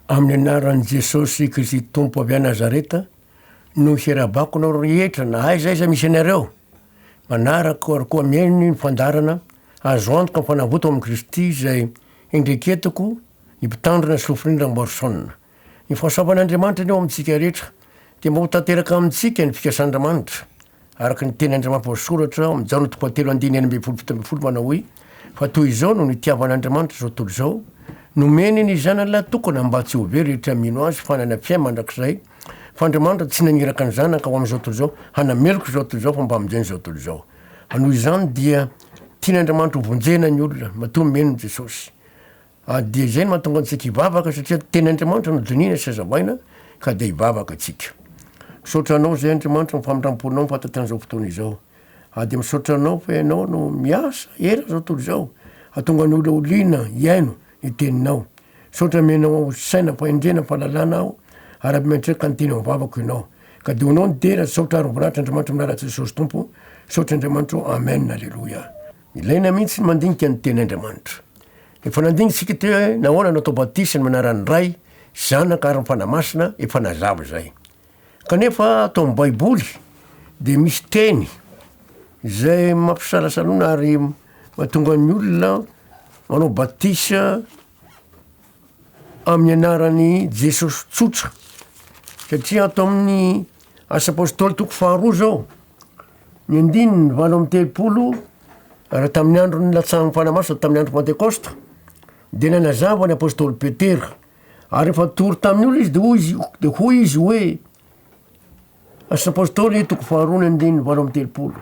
Amin'ny anaran'i Jesosy Kristy Tompo avy any Nazareta no hirahabako anareo rehetra na aiza aiza misy anareo. Manaraka ary koa mihaino ny fandaharana Azo antoka ny fanavotako amin'i Kristy izay hendreketako ny Mpitandrina sy Lofoniana Ramboarison. Ny fahasoavan'Andriamanitra anie ho amintsika rehetra dia mba ho tanteraka amintsika ny fikasan'Andriamanitra Araka ny teny andrimampoasoratra ao amin'ny Jaona toko fahatelo andininy enina ambin'ny folo fito ambin'ny folo manao hoe, Fa toy izao no nitiavan'Andriamanitra izao tontolo izao, nomeny ny Zanany lahy tokana mba tsy ho very rehetra mino Azy fa hanana fiainana mandrakizay, fa Andriamanitra tsy naniraka ny Zanaka ho amin'izao tontolo izao hanameloka izao tontolo izao fa mba hamonjena izao tontolo izao. Noho izany dia tian'Andriamanitra ho vonjena ny olona matoa mino an'i Jesosy. Ary dia izay no mahatonga antsika hivavaka satria teny Andriamanitra no dinihina sy hazavaina ka dia hivavaka tsika. Misaotra anao izay Andriamanitra amin'ny famindramponao ny fahatatian izao fotoana izao. Ary dia misaotra anao fa ianao no miasa eran izao tontolo izao hatonga ny olona ho liana hihaino ny teninao. Misaotra amenao aho saina, fahendrena, fahalalana aho araby miantreka ny teny ao am-vavako ianao. Ka dia ho anao ny dera, saotra ary voninahitra Andriamanitra Manara Jesosy Tompo. Misaotra Andriamanitra ô. Amen. Aleloia. Ilaina mihitsy ny mandinika ny Teny Andriamanitra. Efa nandinitsika teo hoe nahoana natao batisa ny manaran'ny Ray, Zanaka ary ny Fanahy Masina, efa nazava izay. Kanefa ato amin'ny Baiboly dia misy teny izay mampisalasalona ary mahatonga ny olona manao batisa amin'ny anaran'i Jesosy tsotra. Satria ato amin'ny Asa Apôstôly toko faharoa izao, Ny andininy valo amby telopolo, ary tamin'ny andron'ny latsahan'ny fanahy masina tamin'ny andro pantekosta, dia nanazava ny apostoly Petera, ary efa tory tamin'ny olona izy de hoy izy, de hoy izy hoe, Asa Apostoly toko faharoa ny andininy valo amby telopolo.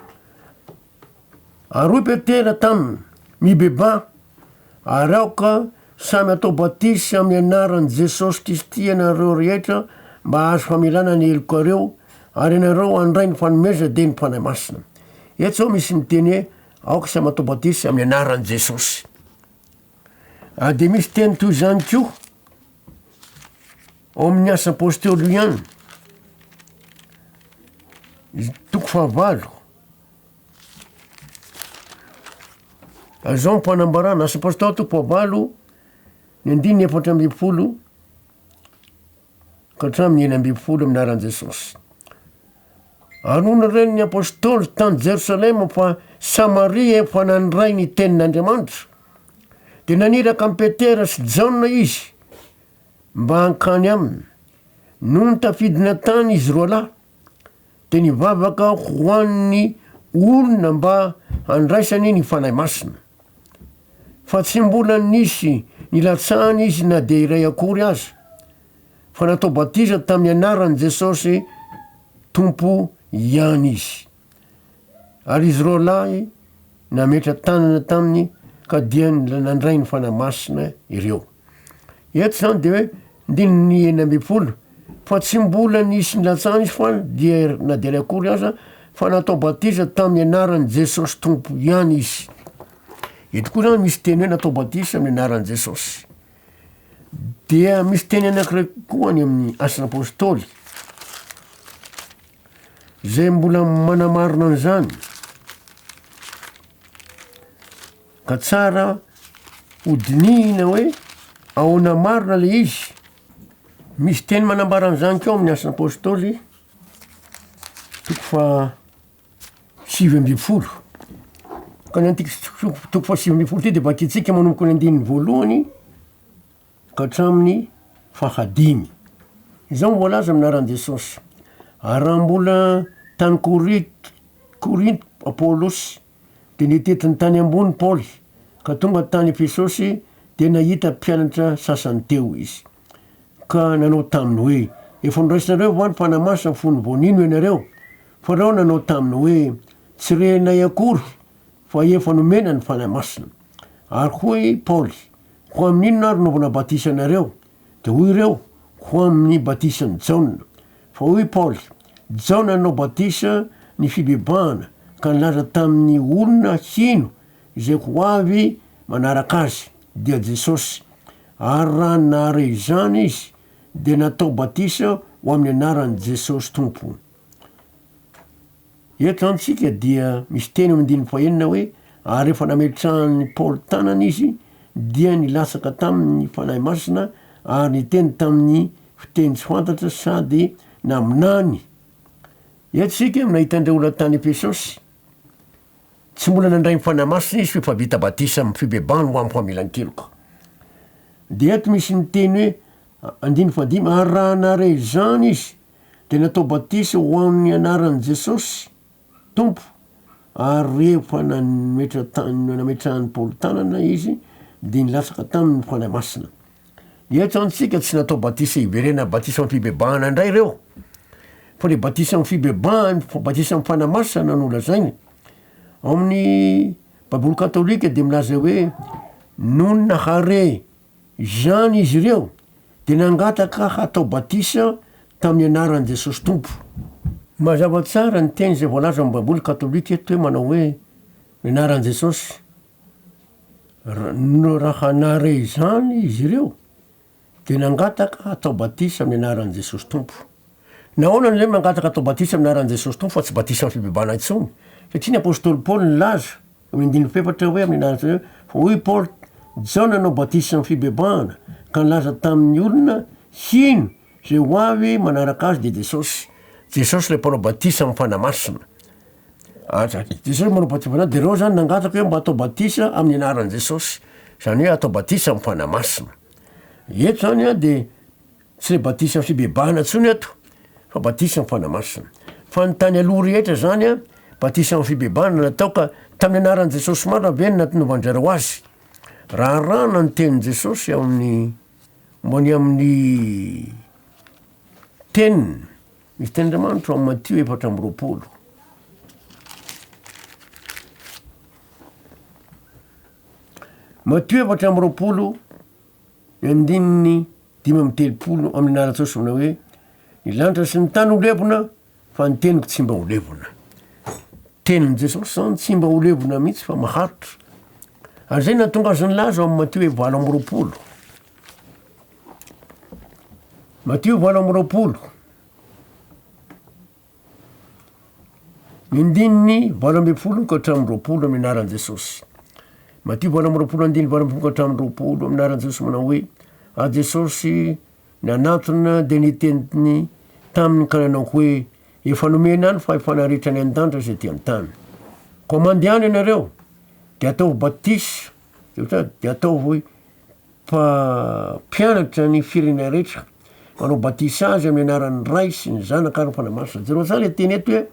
Ary hoy Petera taminy, Mibebaha, ary aoka samy hatao batisa amin'ny anaran'i Jesosy Kristy ianareo rehetra mba hahazo famelana ny helokareo, ary ianareo handray ny fanomezana dia ny Fanahy Masina. Eto izao misy miteny hoe aoka samy hatao batisa amin'ny anaran'i Jesosy. Ary dia misy teny toy izany koa ao amin'ny asa apostolo ihany, toko fahavalo. Azao am-panambarana, Asa Apôstôly toko fahavalo, ny andininy efatra ambin'ny folo ka hatramin'ny enina ambin'ny folo amin'ny anaran'i Jesôsy. Ary hoy ny ren'ny apôstôly tany Jerosalema fa Samaria efa nandray ny tenin'Andriamanitra, dia naniraka an'i Petera sy Jaona izy mba hankany aminy. Nony tafidina tany izy roalahy, Dia nivavaka ho an'ny olona mba handraisany ny Fanahy Masina. Fa tsy mbola nisy nilatsahany izy na dia iray akory aza, fa natao batisa tamin'ny anaran'i Jesosy Tompo ihany izy. Ary izy roalahy nametra-tanana taminy ka dia nandray ny Fanahy Masina ireo. Eto izany dia hoe ndininy enina ambin'ny folo fa tsy mbola nisy nilatsahana izy fa dia na dia akory aza fa natao batisa tamin'ny anaran'i Jesosy Tompo ihany izy. Eto koa izany misy teny hoe natao batisa amin'ny anaran'i Jesosy. Dia misy teny anankiray koa any amin'ny asan'ny apôstôly izay mbola manamarina an'izany. Ka tsara ho dinihina hoe ahoana marina ilay izy. Misy teny manambara an'izany koa ao amin'ny Asan'ny Apostoly, toko fahasivy ambin'ny folo. Ka ny an'ity toko fahasivy ambin'ny folo ity dia vakintsika manomboka ny andininy voalohany ka hatramin'ny fahadimy. Izao no voalaza amin'ny anaran'i Jesosy, ary raha mbola tany Korinto Korinto Paolosy dia nitidrony tany ambony Paoly, ka tonga tany Efesosy dia nahita mpianatra sasany teo izy. Ka nanao taminy hoe, Efa noraisnareo va ny Fanahy Masina fony vao nino ianareo? Farao nanao taminy hoe, Tsy renay akory fa efa nomena ny Fanahy Masina. Ary hoy Paoly, Ho amin'inona ary no vao nabatisanareo? Dia hoy ireo, Ho amin'ny batisan'i Jaona. Fa hoy Paoly, Jaona nanao batisa ny fibebahana ka nilaza tamin'ny olona hino izay ho avy manaraka azy, dia Jesosy. Ary raha nahare izany izy, dia natao batisa ho amin'ny anaran'i Jesosy Tompo. Eto izany isika dia misy teny amin'ny andininy fahenina hoe, Ary rehefa nametrahan'i Paoly tanana izy, dia nilatsaka taminy ny Fanahy Masina ary niteny tamin'ny fiteny tsy fantatra sady naminany. Eto isika no nahita an'ireo olona tany Efesosy. Tsy mbola nandray ny Fanahy Masina izy f'efa vita batisa amin'ny fibebahana ho amin'ny famelan-keloka. Dia eto misy ny teny hoe, andininy fahadimy, Ary raha nahare izany izy, dia natao batisa ho amin'ny anaran'i Jesosy Tompo, ary rehefa nametra ta- nametrahan'i Paoly tanana izy, dia nilatsaka taminy ny Fanahy Masina. Eto antsika tsy natao batisa hiverena batisa amin'ny fibebahana indray ireo, fa le batisa amin'ny fibebahany, fa batisa amin'ny Fanahy Masina no lazainy. Ao amin'ny Baiboly katolika dia milaza hoe nonina hare. Izany izy ireo dia nangataka hatao batisa tamin'ny anaran'i Jesosy Tompo. Mazava tsara ny teny izay voalaza amin'ny Baiboly katolika eto hoe manao hoe, Ny anaran'i Jesosy. Raha nahare izany izy ireo, dia nangataka hatao batisa amin'ny anaran'i Jesosy Tompo. Nahoana no ilaina ny mangataka atao batisa amin'ny anaran'i Jesosy Tompo fa tsy batisa amin'ny fibebahana intsony? Satria ny apostoly Paoly nilaza, amin'ny andininy fahefatra hoe amin'ny anaran'i Jesosy, fa hoy Paoly, Jaona nanao batisa amin'ny fibebahana, ka nilaza tamin'ny olona hino, izay ho avy manaraka azy dia Jesosy. Jesosy ilay mpanao batisa amin'ny Fanahy Masina. Aza. Jesosy manao batisa amin'ny Fanahy, dia ireo izany nangataka hoe mba atao batisa amin'ny anaran'i Jesosy, izany hoe atao batisa amin'ny Fanahy Masina. Eto izany dia Tsy le batisa fibebahana tsony eto fa batisa am fana masina. Fa ny tany aloha rehetra zany a batisa am fibebahana natao ka tamin'ny anaran'i Jesosy marina ve no natnovandrareo azy? Raha arahana ny tenin'i Jesosy ao amin'ny momba ny amin'ny teniny misy teny Andriamanitra ao am Matio efatra amby roapolo. Matio efatra amby roapolo ny andininy Dimy amby telopolo amin'ny lalan-tsaosy manao hoe, Ny lanitra sy ny tany ho levona, fa ny teniko tsy mba ho levona. Tenin'i Jesosy izany tsy mba ho levona mihitsy fa maharitra. Ary izay nahatonga azy nilaza ao amin'ny Matio hoe valo amby roapolo. Matio valo amby roapolo. Ny ndininy valo ambin'ny folo ka hatramin'ny roapolo amin'ny anaran'i Jesosy. Matio valo amby roapolo andininy valo ambin'ny folo ka hatramin'ny roapolo amin'ny anaran'i Jesosy manao hoe ary Jesosy nanatona dia niteny taminy ka nanao hoe efa nomena ny fahefana rehetra any an-danitra sy ety an-tany. Koa mandehana ianareo dia ataovy batisa Dia ataovy mpampianatra ny firenena rehetra. Manao batisa azy amin'ny anaran'ny Ray sy ny Zanaka ary ny Fanahy Masina. Jereo tsara ilay teny eto hoe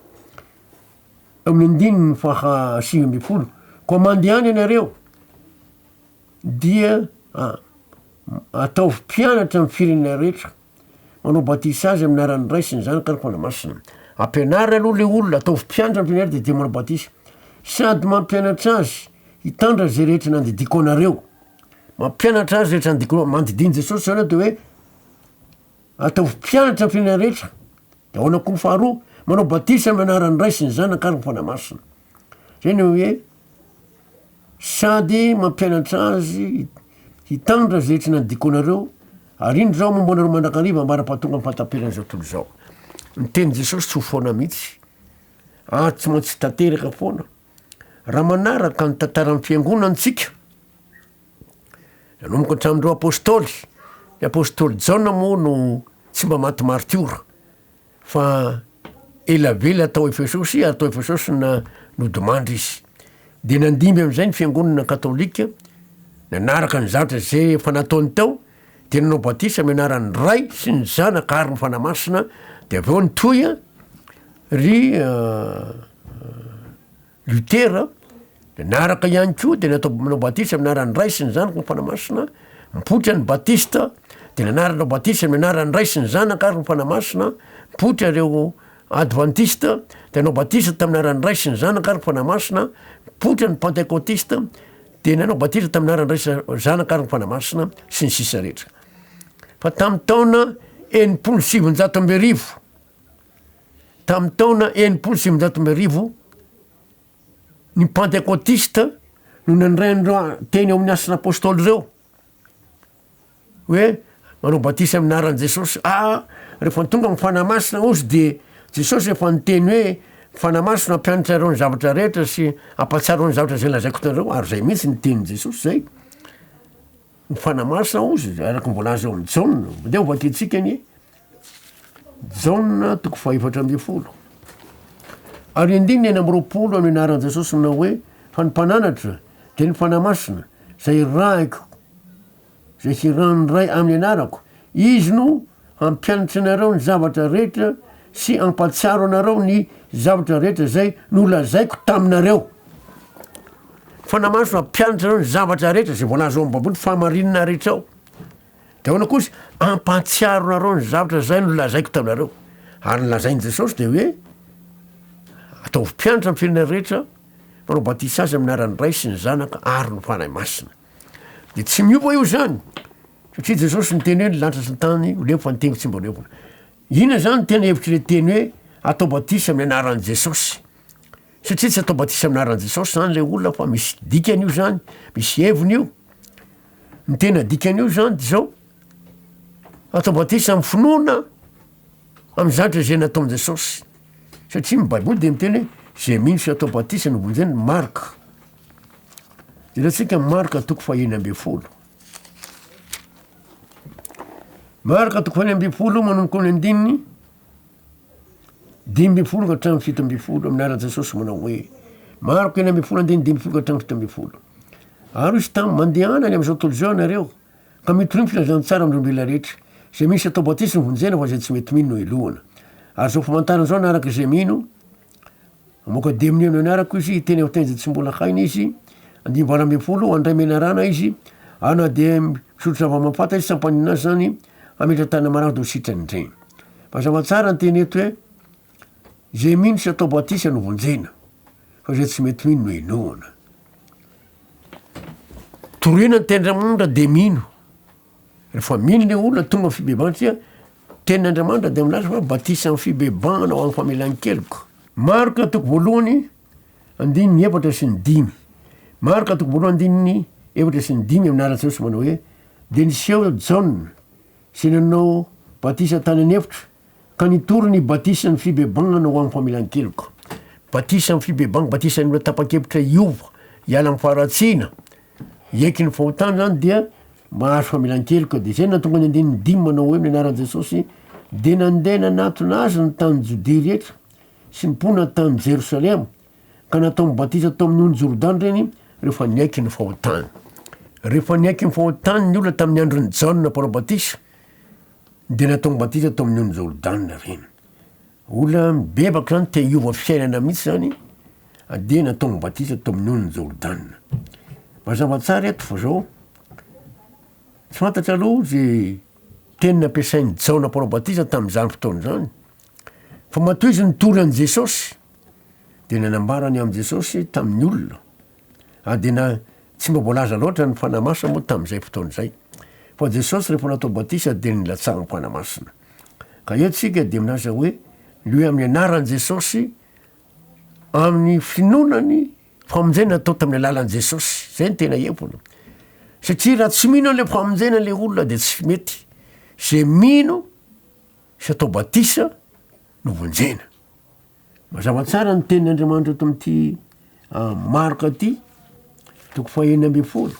amin'ny andininy faha sivy ambin'ny folo. Koa mandehana ianareo dia ataovy mpianatra amin'ny firenena rehetra. Manao batisa azy amin'ny anaran'ny Ray sy ny Zanaka ary ny Fanahy Masina. Ampianaro aloha le olona, ataovy mpianatra ny tenany dia dia manao batisa. Sady mampianatra azy hitandra zay rehetra nandidiako anareo. Mampianatra azy rehetra nandidiako anareo. Mandidian'i Jesosy zany aho de hoe ataovy mpianatra ny firenena rehetra. De ahoana koa ny faharoa? Manao batisa amin'ny anaran'ny Ray sy ny Zanaka ary ny Fanahy Masina. Zay no hoe. sady mampianatra azy hitandra izay tsy nadiko anareo, ary indro izaho momba anareo mandrakariva ambara-pahatonga amin'ny fahataperan'izao tontolo izao. Ny tenin'i Jesosy tsy ho foana mihitsy, ary tsy maintsy tanteraka foana. Raha manaraka ny tantaran'ny fiangonana antsika, nanomboka hatramin'ireo apostoly, ny apostoly Jaona moa no tsy mba maty martiora, Fa elabela tao Efesosy ary tao Efesosy na nodimandry izy. Dia nandimby amin'izay ny fiangonana katolika, nanaraka ny zatra izay efa nataony tao, dia nanao batisa amin'ny anaran'ny Ray sy ny Zanaka ary ny Fanahy Masina, dia avy eo nitohy ry Lutera, dia niaraka ihany koa dia natao nanao batisa amin'ny anaran'ny Ray sy ny Zanaka ary ny Fanahy Masina, nipoitra ny Batista, dia nanarnao batisa amin'ny anaran'ny Ray sy ny Zanaka ary ny Fanahy Masina, nipoitra ireo Advantista, dia nanao batisa tamin'ny anaran'ny Ray sy ny Zanaka ary ny Fanahy Masina, nipoitra ny Pantekotista, dia nanao batisa tamin'ny anaran'ny Ray sy Zanaka ary ny Fanahy Masina, sy ny sisa rehetra. Fa tamin'ny taona enimpolo sy sivinjato amby arivo, Tamin'ny taona enimpolo sy sivinjato sy amby arivo, ny Pantekotista no nandray an'ireo teny ao amin'ny Asan'ny Apôstôly ireo hoe manao batisa amin'ny anaran'i Jesôsy. Ah, rehefa tonga ny Fanahy Masina ozy dia Jesôsy efa niteny hoe Fanahy Masina hampianatra ireo ny zavatra rehetra sy hampahatsiaro ny zavatra izay lazaiko anareo ary izay mihitsy ny tenin'i Jesôsy izay. Ny Fanahy Masina ozy, araka ny voalaza ao amin'ny Jaona. Mandeha hovakiantsika anie. Jaona toko fahefatra ambin'ny folo ary andininy enina amby roapolo no anaran'i Jesosy manao hoe fa ny mpananatra dia ny fanahy masina izay irahiko izay hiran'ny ray amin'ny anarako izy no hampianatra anareo ny zavatra rehetra sy ampatsiaro anareo ny zavatra rehetra izay nolazaiko taminareo fanahy masina hampianatra anareo ny zavatra rehetra izay voalaza ao amin'ny baiboly fahamarinana rehetra ao Dia ahoana kosa? Ampahatsiaro anareo ny zavatra izay nolazaiko taminareo. Ary ny lazain'i Jesosy dia hoe, Ataovy mpianatra ny firenena rehetra, mpanao batisa azy amin'ny anaran'ny Ray sy ny Zanaka ary ny Fanahy Masina. Dia tsy miova io izany, satria Jesosy niteny hoe ny lanitra sy ny tany ho leo fa ny teniko tsy mba ho levona. Inona izany no tena hevitr'ilay teny hoe atao batisa amin'ny anaran'i Jesosy? Satria tsy atao batisa amin'ny anaran'i Jesosy izany ilay olona fa misy dikany io izany, misy heviny io. Ny tena dikan'io zany de zao, ato ampatrisy amin'ny finoana amin'ny zatra izay nataon'i Jesosy, satria ny baiboly de miteny hoe zay mino sy atao batisa no vonjeny, marka, jerentsika marka toko fahenina ambin'ny folo, marka toko fahenina ambin'ny folo manomboka amin'ny andininy Dimy ambin'ny folo ka hatramin'ny fito ambin'ny folo, amin'ny anaran'i Jesosy manao hoe, mariko enina ambin'ny folo andininy dimy ambin'ny folo ka hatramin'ny fito ambin'ny folo. Ary izy tamin'ny mandehana any amin'izao tontolo izao ianareo, ka mitoriany filazana tsara amin'ny olombelona rehetra. Izay misy atao batisa no vonjena fa izay tsy mety mino no helohana. Ary izao famantarana izao hanaraka izay mino, Mamoaka dimy ny andron'ny arako izy, hiteny amin'ny teny izay tsy mbola hainy izy. Andimy valo ambin'ny folo, handray menarana izy, ary na dia misotro zava-mampata izy, tsy hampaninona azy izany, hametra tanana marary dia ho sitrany indray. Mazava tsara ny teny eto hoe, izay mino sy atao batisa no vonjena, fa izay tsy mety mino no henoina. Torohina ny tenin-dRamanitra dia mino. Rehefa mino le olona tonga am fibebahana dia tenin' Andriamanitra dia milaza fa batisa am fibebahana ho am famelan keloka. Marka toko voalohany andininy efatra sy ny dimy. Marka toko voalohany andininy efatra sy ny dimy amin' anaran' Jesosy manao hoe, Dia niseho Jaona, izay nanao batisa tany an efitra, Ka nitory ny batisan'ny fibebagnana ho amin'ny familan-keloka. Batisa amin'ny fibebagna, batisan'ny olona tapa-kevitra hiova, hiala amin'ny faharatsiana, hiaiky ny fahotany zany dia mahazo familan-keloka. De zay no nahatonga ny andininy dimy manao hoe amin'ny anaran'i Jesosy de nandeha nanatona azy ny tany Jodia rehetra sy ny mponina tany Jerosalema ka nataony batisa tao amin'ny ony Jordana ireny rehefa niaiky ny fahotany. Rehefa niaiky ny fahotany ny olona tamin'ny andron'i Jaona mpanao batisa Dia nataony batisa tao amin'ny ony Jordana ireny. Olona mibebaka izany, te hiova fiainana mihitsy izany, dia nataony batisa tao amin'ny ony Jordana. Mazava tsara eto fa zao, tsy fantatra aloha izay teny nampiasain'i Jaona mpanao batisa tamin'izany fotoana izany, fa matoa izy nitory an'i Jesosy, dia nanambara ny amin'i Jesosy tamin'ny olona. Adina tsy mba voalaza loatra ny Fanahy Masina moa tamin'izay fotoana izay. Fa Jesosy rehefa natao batisa dia nilatsahan'ny Fanahy Masina. Ka eto isika dia milaza hoe ny hoe amin'ny anaran'i Jesosy amin'ny finoana ny famonjena atao tamin'ny alalan'i Jesosy. Zay ny tena heviny. Satria raha tsy mino an'ilay famonjena ilay olona dia tsy mety. Izay mino sy atao batisa no vonjena. Mazava tsara ny tenin' Andriamanitra eto amin'ity Marka ity, toko fahenina ambin'ny folo.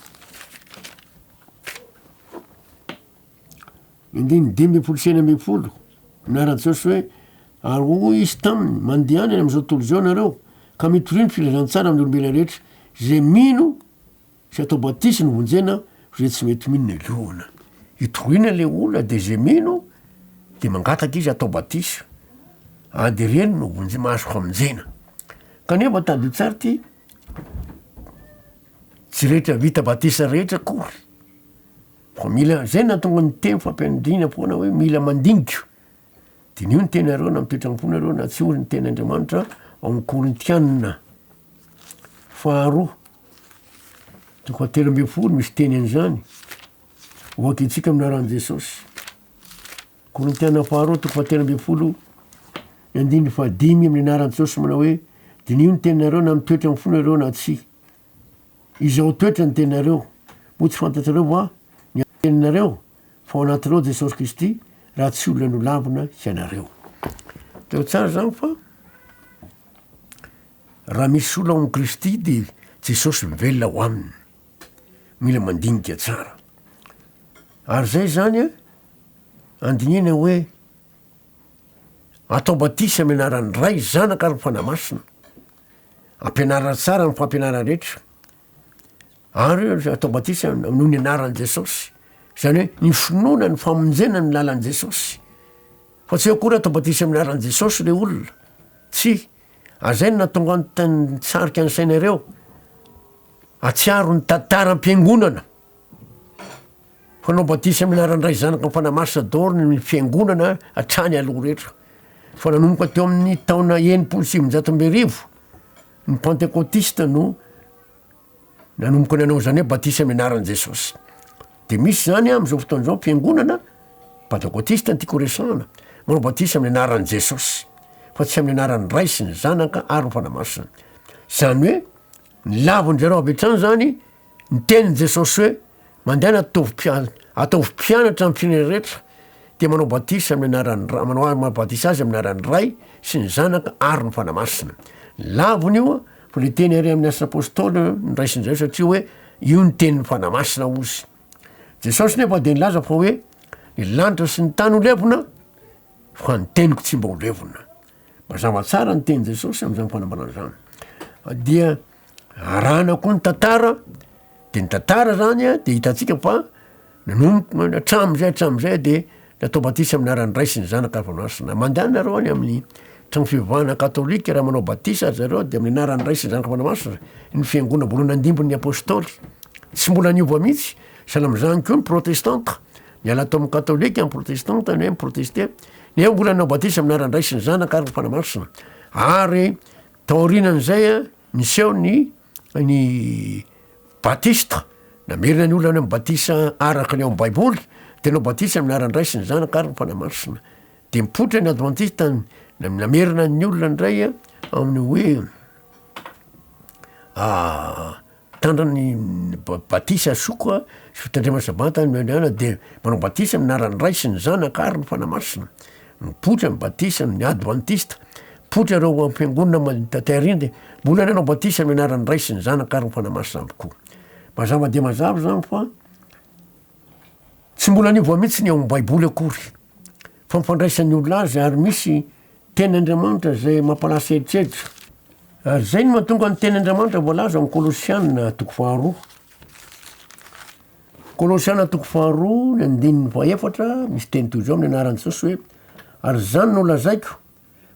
Indiny dimy ambin'ny folo sy enina ambin'ny folo, milaza Jesosy hoe ary hoy izy taminy, mandehana any amin'izao tontolo izao ianareo, ka mitoria ny filazantsara amin'ny olombelona rehetra, izay mino Tsy atao batisa ny vonjena fa zay tsy mety mino ny liona. Itoriana le olona de zay mino de mangataka izy atao batisa a de reny no vonje- mahazo famonjena. Kanefa tadio tsara ty, tsy rehetra vita batisa rehetra akory fa mila, zay nahatonga ny teny fampianadriana foana hoe mila mandinika. Diniho ny tenareo na mitoetra am-ponareo na tsy hoy ny tenin'Andriamanitra ao amin'ny Korintianina faharoa toko atelo ambin'ny folo misy teny an'izany hoaky antsika amin'ny anaran'i Jesosy. Korintianina faharoa toko atelo ambin'ny folo ny andininy fahadimy amin'ny anaran'i Jesosy manao hoe diniho ny teninareo na mitoetra amin'ny fonareo na tsy Izao toetra ny teninareo, moa tsy fantatrareo va ny teninareo fa ao anatinao Jesosy Kristy raha tsy olona nolambina hianareo. Teo tsara izany fa raha misy olona ao amin'i Kristy dia Jesosy mivelona ao aminy. Mila mandinika tsara. Ary izay izany a, andinihana hoe atao batisa amin'ny anaran'ny Ray, Zanaka ary ny Fanahy Masina. Ampianarina tsara ny fampianarana rehetra ary atao batisa noho ny anaran'i Jesosy. Izany hoe ny finoana ny famonjena ny lalan'i Jesosy. Fa tsy akory atao batisa amin'ny anaran'i Jesosy le olona. Tsy. Ary zay no natonga ny tany tsarika ny sainareo. Atsiaro ny tantaram-piangonana. Fanao batisa amin'ny anaran'ny Ray, Zanaka, Fanahy Masina daholo ny fiangonana hatrany aloha rehetra. Fa nanomboka teo amin'ny taona enimpolo sy sivinjato amby arivo ny Pantekotista no nanomboka nanao izany hoe batisa amin'ny anaran'i Jesosy. Dia misy izany amin'izao fotoana izao ny fiangonana Pantekotista antiako resahana, manao batisa amin'ny anaran'i Jesosy fa tsy amin'ny anaran'ny Ray sy ny Zanaka ary ny Fanahy Masina. Izany hoe nilavin-dry zareo avy hatrany izany ny tenin'i Jesosy hoe Mandehana ataovy mpianatra, ataovy mpianatra amin'ny firenena rehetra, dia manao batisa amin'ny anaran'ny Ray, manao azy, manao batisa azy amin'ny anaran'ny Ray sy ny Zanaka ary ny Fanahy Masina. Lavina io, fa le teny ary amin'ny Asa Apôstôly niraisin'izay satria hoe io ny tenin'ny Fanahy Masina ozy. Jesosy nefa dia nilaza fa hoe ny lanitra sy ny tany ho levona fa ny teniko tsy mba ho levona. Mazava tsara ny tenin'i Jesosy amin'izany fanambarana izany. Dia arahana koa ny tantara de ny tantara zany a de hitantsika fa nanomboka na- hatram'zay hatram'zay de natao batisa amin'ny anaran'ny Ray sy ny Zanaka ary Fanahy Masina, mandehana nareo any amin'ny trano fivavahana katôlika raha manao batisa ry zareo de amin'ny anaran'ny Ray sy ny Zanaka sy ny Fanahy Masina ny fiangonana voalohany nandimbin'ny apôstôly, tsy mbola niova mihitsy, sahala am'zany koa ny protestanta, niala tao amin'ny katôlika ny protestanta ne mi-protester, nefa mbola nanao batisa amin'ny anaran'ny Ray sy ny Zanaka ary ny Fanahy Masina ary Taorianan'izay, niseho ny ny batisa, namerina ny olona any amin'ny batisa araka ny ao amin'ny Baiboly, dia nanao batisa amin'ny anaran'ny Ray sy ny Zanaka ary ny Fanahy Masina. Dia mipoitra ny Advantista, namerina ny olona indray amin'ny hoe Mpitandro ny batisa zoko a, sy fitandremana sabata ny Meniana dia manao batisa amin'ny anaran'ny Ray sy ny Zanaka ary ny Fanahy Masina. Mipoitra ny batisa amin'ny Advantista. Mipoitra ireo amin'ny Fiangonana Malim taty Arindy, mbola nanao batisa amin'ny anaran'ny Ray sy ny Zanaka ary ny Fanahy Masina avy koa. Mazava dia mazava izany fa tsy mbola niova mihitsy ny ao amin'ny Baiboly akory fa ny fandraisan'ny olona azy ary misy Teny Andriamanitra izay mampalasa eritreritro. Ary izay no mahatonga ny teny Andriamanitra voalaza amin'ny Kolosiana toko faharoa. Kolosiana toko faharoa, ny andininy fahefatra, misy teny toy izao amin'ny anaran'i Jesosy hoe ary izany no lazaiko,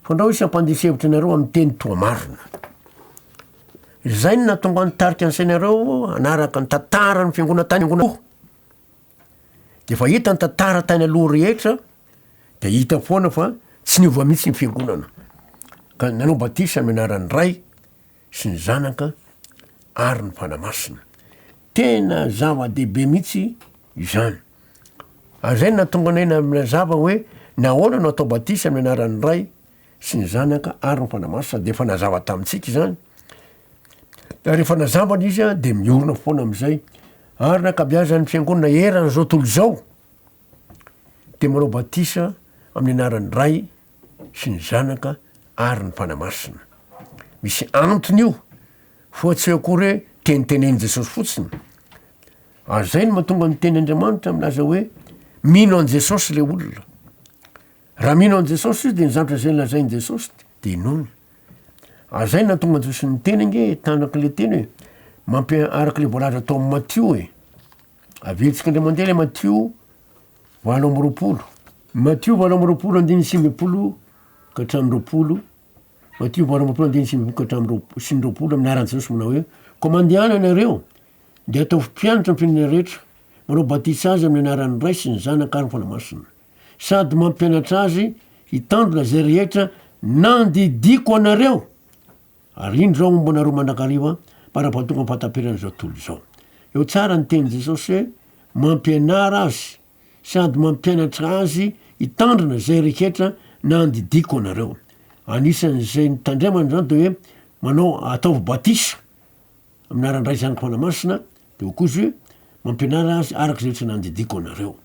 fandrao isy hampandiso hevitra anareo amin'ny teny toa marina. Izay no nahatonga ny tarika ny sainareo hanaraka ny tantaran'ny fiangonana tany angonakoa. De efa hita ny tantara tany aloha rehetra de hita foana fa tsy niova mihitsy ny fiangonana ka nanao batisa amin'ny anaran'ny Ray sy ny Zanaka ary ny Fanahy Masina. Tena zava-dehibe mihitsy izany. Ary zay natonga anay na- nazava hoe nahoana no atao batisa amin'ny anaran'ny Ray sy ny zanaka ary ny Fanahy Masina dia efa nazava tamintsika izany, ary rehefa nazava ny izy dia miorina foana amin'izay, ary ny ankabiazan'ny fiangonana eran'izao tontolo izao dia manao batisa amin'ny anaran'ny Ray sy ny Zanaka ary ny Fanahy Masina. Misy antony io, foa tsy akory hoe tenitenenin'i Jesosy fotsiny. Ary izay no mahatonga ny tenin'Andriamanitra milaza hoe mino an'i Jesosy le olona. Raha mino an'i Jesosy izy dia nizatra izay nolazain'i Jesosy dia nony. Ary izay nahatonga an'i Jesosy niteny ange tanak' ilay teny hoe mampi araka ilay voalaza tao amin'ny Matio e. Aviantsika indray mandeha ilay Matio valo amby roapolo. Matio valo amby roapolo andininy sivy ambin'ny folo ka hatramin'ny roapolo. Matio valo amby roapolo andininy sivy ambin'ny folo ka hatramin'ny roap- sivy amby roapolo amin'ny anaran'i Jesosy manao hoe koa mandehana ianareo dia ataovy mpianatra ny firenena rehetra, manao batisa azy amin'ny anaran'ny Ray sy ny Zanaka ary ny Fanahy Masina. sady mampianatra azy hitandrina izay rehetra nandidiako anareo, ary indro izao homba anareo mandrakariva mpandrapahatonga am-pahataperana izao tontolo izao. Eo tsara ny tenin'i Jesosy hoe mampianara azy sady mampianatra azy hitandrina izay rehetra nandidiako anareo. Anisan'izay nitandremana izany dia hoe manao ataovy batisa. Aminà Randraisaniko Manamasina de au cousu mampianara azy araka izay tsy nandidiako anareo.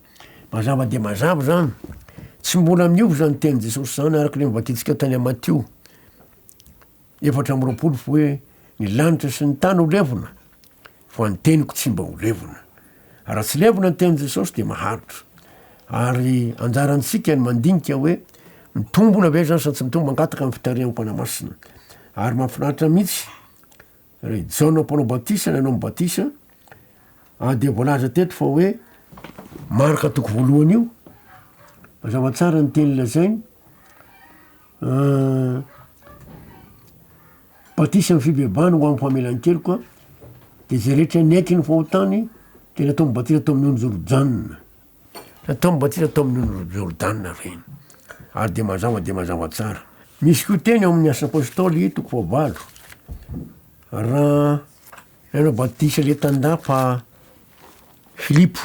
Mazava dia mazava izany, tsy mbola miova izany tenin'i Jesosy izany araka ilay novakintsika tany amin'ny Matio efatra amby roapolo fa hoe ny lanitra sy ny tany ho levona fa ny teniko tsy mba ho levona. Raha tsy levona ny tenin'i Jesosy dia maharitra. Ary anjarantsika ny mandinika hoe mitombona ve izany sa tsy mitombona, mangataka ny fitarihan'ny Fanahy Masina. Ary mahafinaritra mihitsy Raha i Jaona mpanao batisa no hanao ny batisa, ary dia voalaza teto fa hoe Marka toko voalohany io, mazava tsara ny teny lazainy, ah, batisa amin'ny fibebahana ho amin'ny famelan-keloka, dia izay rehetra niaiky ny fahotany dia natao ny batisa tao amin'ny onjy Rojana. Nataony batisa tao amin'ny ony Jordana ireny, ary dia mazava dia mazava tsara. Misy koa teny ao amin'ny Asa Apostoly toko fahavalo, raha nanao batisa ilay tandapa Filipo.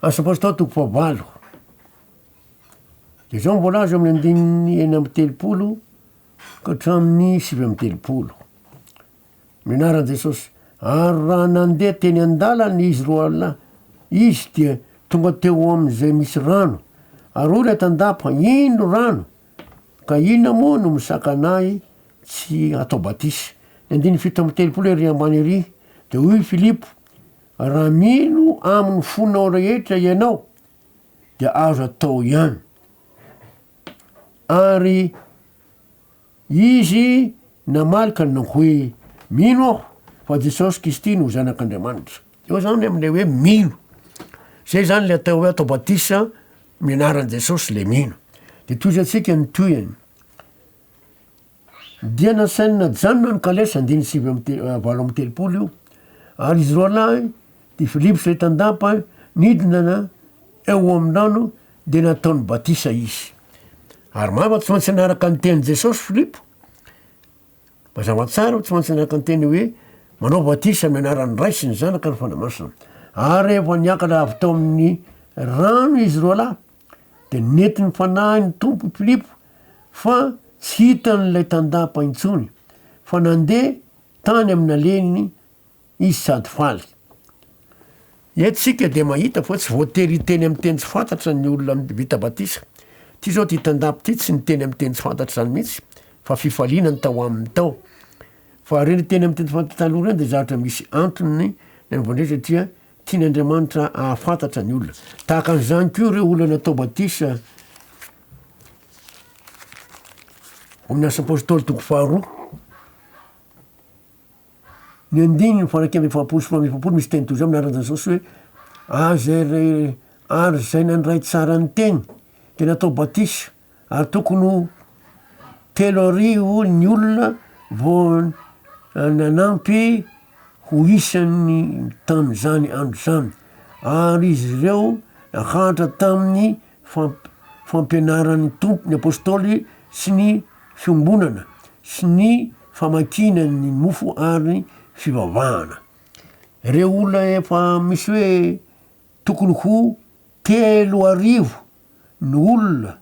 Asa Apostoly toko fahavalo. Dia izao no voalaza amin'ny andininy enina amby telopolo ka hatramin'ny sivy amby telopolo. Menarany Jesosy. Ary raha nandeha teny an-dalana izy roa lahy, izy dia tonga teo amin'izay misy rano, ary hoy ilay tandapa, Ino rano? Ka inona moa no misakana ahy tsy hatao batisa? Ny andininy fito amby telopolo ery ambany ery, dia hoy Filipo, Raha mino amin'ny fonao rehetra ianao, dia azo atao ihany. Ary Izy namaly ka nanao hoe, Mino aho fa Jesosy Kisty no Zanak'Andriamanitra. Eo zany amin'ilay hoe mino. Zay zany le atao hoe atao batisa amin'ny anaran'i Jesosy le mino. De tohizo antsika ny tohiny. Dia nasainina janona ny kalesa andiny sivy amby te- valo amby telopolo io, ary izy roalahy, ty Filipo sy ry Tandapa, nidina eo amin-drano dia nataony batisa izy. Ary maro tsy maintsy nanaraka ny tenin'i Jesosy Filipo. Mazava tsara tsy maintsy nanaraka ny teny hoe manao batisa amin'ny anaran'ny Ray sy ny Zanaka ary ny Fanahy Masina. Ary rehefa niakatra avy tao amin'ny rano izy roa lahy dia nety ny fanahy ny Tompo Filipo fa tsy hitan'ilay tandapa intsony fa nandeha tany amin'ny naleiny izy sady faly. Eto isika dia mahita fa tsy voatery hiteny amin'ny teny tsy fantatra ny olona vita batisa. Ity izao ity tandapa ity tsy niteny amin'ny teny tsy fantatra izany mihitsy fa fifaliana ny tao aminy tao. Fa ireo niteny amin'ny teny tsy fantatra taloha ireo dia zavatra misy antony nanaovany izay satria tian' Andriamanitra hahafantatra ny olona. Tahaka an'izany koa ireo olona natao batisa ao amin'ny Asa Apôstôly toko faharoa. Ny andininy faha-iraika amby efapolo sy faha-enina amby efapolo misy teny toy izao amin'ny anaran'i Jesosy hoe, Azy ary izay nandray tsara ny teny dia natao batisa, ary tokony ho telo arivo ny olona vao nanampy ho isany tamin'izany andro izany, ary izy ireo naharitra tamin'ny Famp, fampianaran'ny Tompo ny Apostoly sy ny Fiombonana sy ny famakiana ny mofo ary ny fivavahana. Ireo olona efa misy hoe tokony ho telo arivo ny olona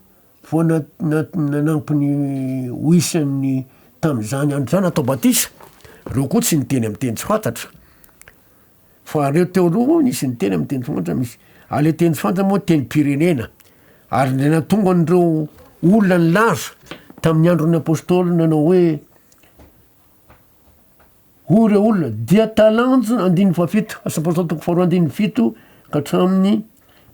vao na, na, nanampy ny ho isan'ny tamin'izany andro izany natao batisa. Ireo koa tsy niteny amin'ny teny tsy fantatra. Fa aleo teo aloha hono hisy ny teny amin'ny teny soantra misy. Aleo teny soantra moa tenim-pirenena. Ary indray nahatonga an'ireo olona nilaza tamin'ny andron'ny apôstôly nanao hoe hoy ireo olona dia talanjona andininy fahafito, asa apôstôly toko faharoa andininy fito ka hatramin'ny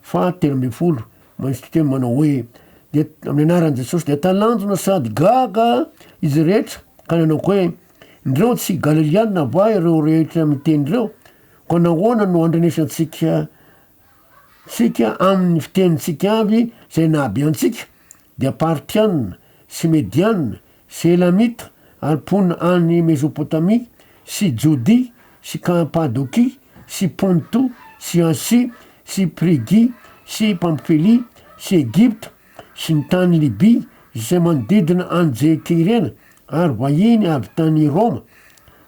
Faha telo ambin'ny folo, Manisy titeny manao hoe, Dia amin'ny anaran'i Jesosy dia talanjona sady gaga izy rehetra, ka nanao hoe, Ndreo tsy Galiliana va ireo rehetra miteny ireo? Koa nahoana no andrenesantsika tsika amin'ny fitenintsika avy izay nahabe antsika? dia Partiana sy Mediana sy Elamita ary mponina any Mezopotamia sy Jodia sy Kapadokia sy Ponto sy Asia sy Prigia sy Pamfilia sy Egypta sy ny tany Libia izay manodidina an'i Jekirena ary vahiny avy tany Roma,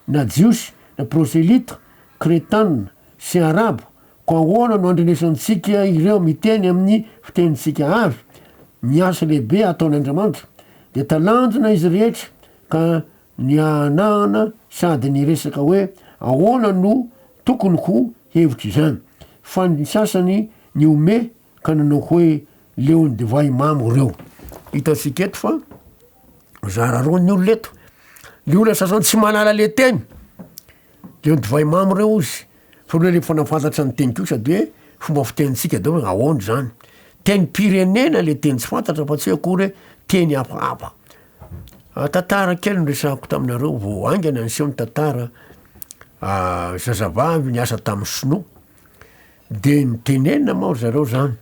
na Jiosy na Proselyta, Kretana sy Arabo Koa ahoana no andrenesantsika ireo miteny amin'ny fitenintsika avy? Ny asa lehibe ataon'Andriamanitra, dia talanjona izy rehetra ka nihanahana sady niresaka hoe ahoana no tokony ho hevitr'izany. Fa ny sasany nihomehy ka nanao hoe, Leo ny divay mamo ireo. Hitantsika eto fa zara roa ny olona eto. Ny olona sasany tsy mahalala ilay teny, Dia ny divay mamy ireo hozy. Fa ny hoe rehefa nafantatra ny teny kosa dia hoe fomba fitenintsika daholo hoe ahoana izany. Tenim-pirenena ilay teny tsy fantatra fa tsy hoe akory hoe teny hafahafa. Tantara kely no resahako taminareo vao haingana niseho ny tantara zazavavy niasa tamin'ny sinoa. Dia nitenenina moa ry zareo izany.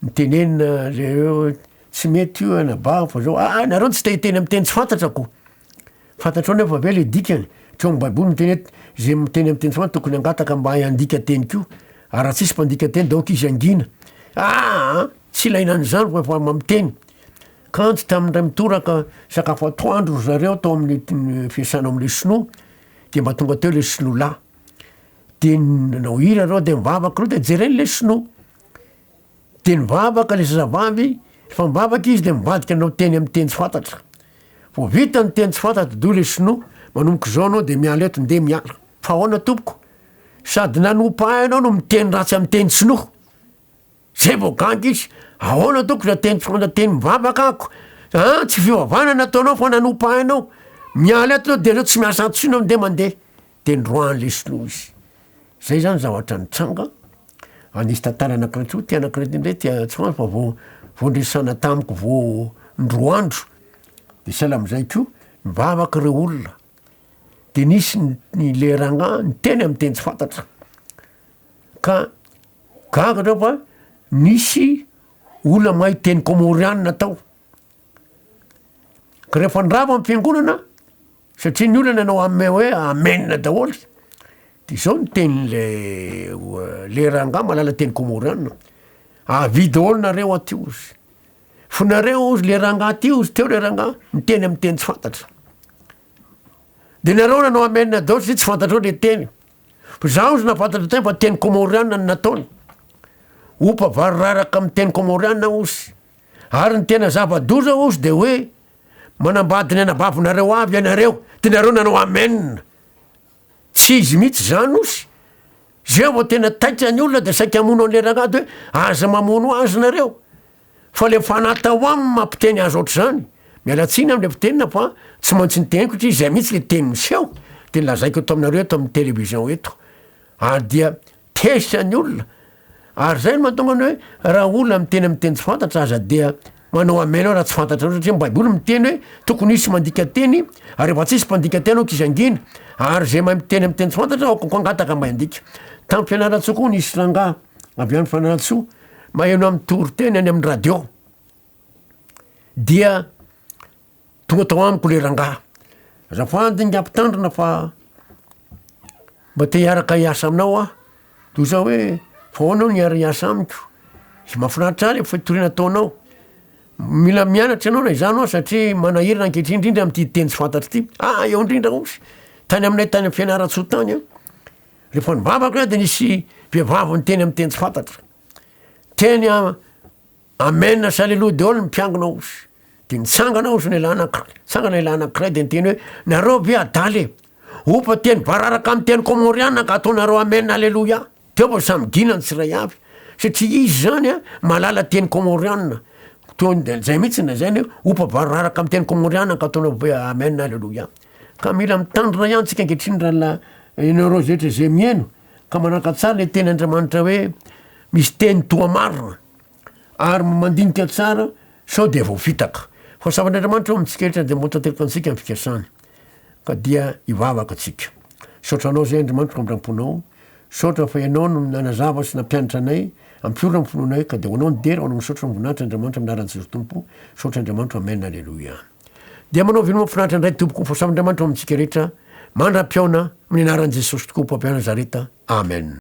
Nitenenina ilay hoe tsy mety io anabavy fa izao, ah nareo tsy te hiteny amin'ny teny tsy fantatrako. Fantatrao anefa ve le dikany? Tsy ao am baiboly miteny hoe zay miteny am teny samy tokony hangataka mba hay handika teny koa ary raha tsisy mpandika teny de aoka izy hangina aa tsy ilaina an'izany fa efa mamiteny kanjo tamin'ny ray mitoraka sakafo atoandro ry zareo tao amin'ny fiasana amle sinoa de mba tonga teo le sinoa lahy de nanao hira reo de mivavaka reo de jereny le sinoa Dia nivavaka ilay zazavavy, rehefa mivavaka izy dia mivadika nanao teny amin'ny teny tsy fantatra. Vao vita ny teny tsy fantatra dia hoy ilay sinoa, manomboka izao ianao dia miala eto, ndeha miala. Fa ahoana tompoko? Sady nanompo ahy ianao no miteny ratsy amin'ny teny sinoa. Izay vao gaga izy, ahoana tompoko izay teny tsy fantatra, teny mivavaka ako, a! tsy fivavahana no ataonao fa nanompo ahy ianao, miala eto ianao dia aleo tsy miasa ato intsony ianao, ndeha mandeha. Teny Rouen Lesno izy. Zay zany zavatra nitranga a nisy tantaran'Ankatso ty anak'ireto indray ty Atsimo fa vao vao niresahana tamiko vao indroa andro de sahala am'zay ko nivavaka reo olona de nisy ny ny le rangah niteny am' teny tsy fantatra ka gaga reo fa nisy olona mahay teny kômôrianina tao. Rehefa andrava amin'ny fiangonana, satria ny olona no hanome hoe amen daholo, de zao ny tenin'le le rangahy mahalala teny kômôrianina, avia daholo nareo aty ozy, fo nareo ozy le rangahy ty ozy teo le rangahy miteny amin'ny teny tsy fantatra, de nareo nanao amen daholo satria tsy fantatrao le teny, fa za ozy na fantatra teny fa teny kômôrianina no nataony, opa vary raraka amin'ny teny kômôrianina ozy. Ary ny tena zava-doza hozy dia hoe manambady ny anabavinareo avy ianareo dia nareo nanao amen. Tsy izy mihitsy izany hozy. Zay vao tena taitra ny olona dia saika hamono an'ilay rangahy dia hoe aza mamono azy nareo. Fa ilay fanahy tao aminy mampiteny azy ohatr'izany. Miala tsiny amin'ilay mpitenina fa tsy maintsy niteniko satria izay mihitsy ilay teny miseho dia nolazaiko eto aminareo eto amin'ny television eto. Ary dia tezitra ny olona. Ary izay no mahatonga ny hoe raha olona miteny amin'ny teny tsy fantatra aza dia manao amen aho raha tsy fantatrareo satria ny baiboly miteny hoe tokony hisy mandika teny ary rehefa tsy hisy mpandika teny aoka izy hangina ary izay mahay miteny amin'ny teny tsy fantatra aoka koa hangataka mba handika. Tamin'ny Fianarantsoa koa nisy rangahy avy any Fianarantsoa maheno amin'ny toriteny any amin'ny radio dia Tonga tao amiko le rangaha, azafady ingahy mpitandrina fa mba te hiaraka hiasa aminao aho, toy zany hoe fa ahoana aho no hiara hiasa amiko, tsy mahafinaritra ahy le fitoriana ataonao, mila mianatra ianao na izaho na ianao satria manahirana ankehitriny indrindra amin'ity teny tsy fantatro ity, ah eo indrindra ozy, tany aminay tany amin'ny Fianarantsoa tany an, rehefa nivavaka aho de nisy vehivavy niteny amin'ny teny tsy fantatro, teny an. Amen as aleloa deol mpiangona os de mitsangana os ny lana mitsangana ilay anakiray de niteny hoe nareo ve adala e opa teny bararaka am teny komoriana ka ataonareo amen aleloia teo fa samy gina ny tsiray avy satria izy zany a malala teny komoriana to de zay mitsy na zay ny hoe opa bararaka am teny komoriana ka ataonareo hoe amen aleloia ka mila mitandrina ihany tsika ankehitriny rahala ianareo zay rehetra zay mihaino ka manaraka tsara le teny Andriamanitra hoe misy teny toa marina Ary mandinika tsara sao dia voafitaka. Fa Zavan'Andriamanitra ao amintsika rehetra dia mahatanteraka antsika amin'ny fikasany. Ka dia hivavaka tsika. Misaotra Anao izay Andriamanitro Ngambramponao. Misaotra fa Ianao no nanazava sy nampianatra anay, ampiorina ny finoanay, ka dia ho Anao ny dera, ho Anao Misaotra voninahitra Andriamanitra amin'ny anaran'i Jesosy Tompo. Misaotra Andriamanitro Amen Aleloia. Dia manao vino mafinaritra indray tompoko fa Zavan'Andriamanitra ao amintsika rehetra mandra-pihaona amin'ny anaran'i Jesosy tokoa Mpampia Nazareta Amen.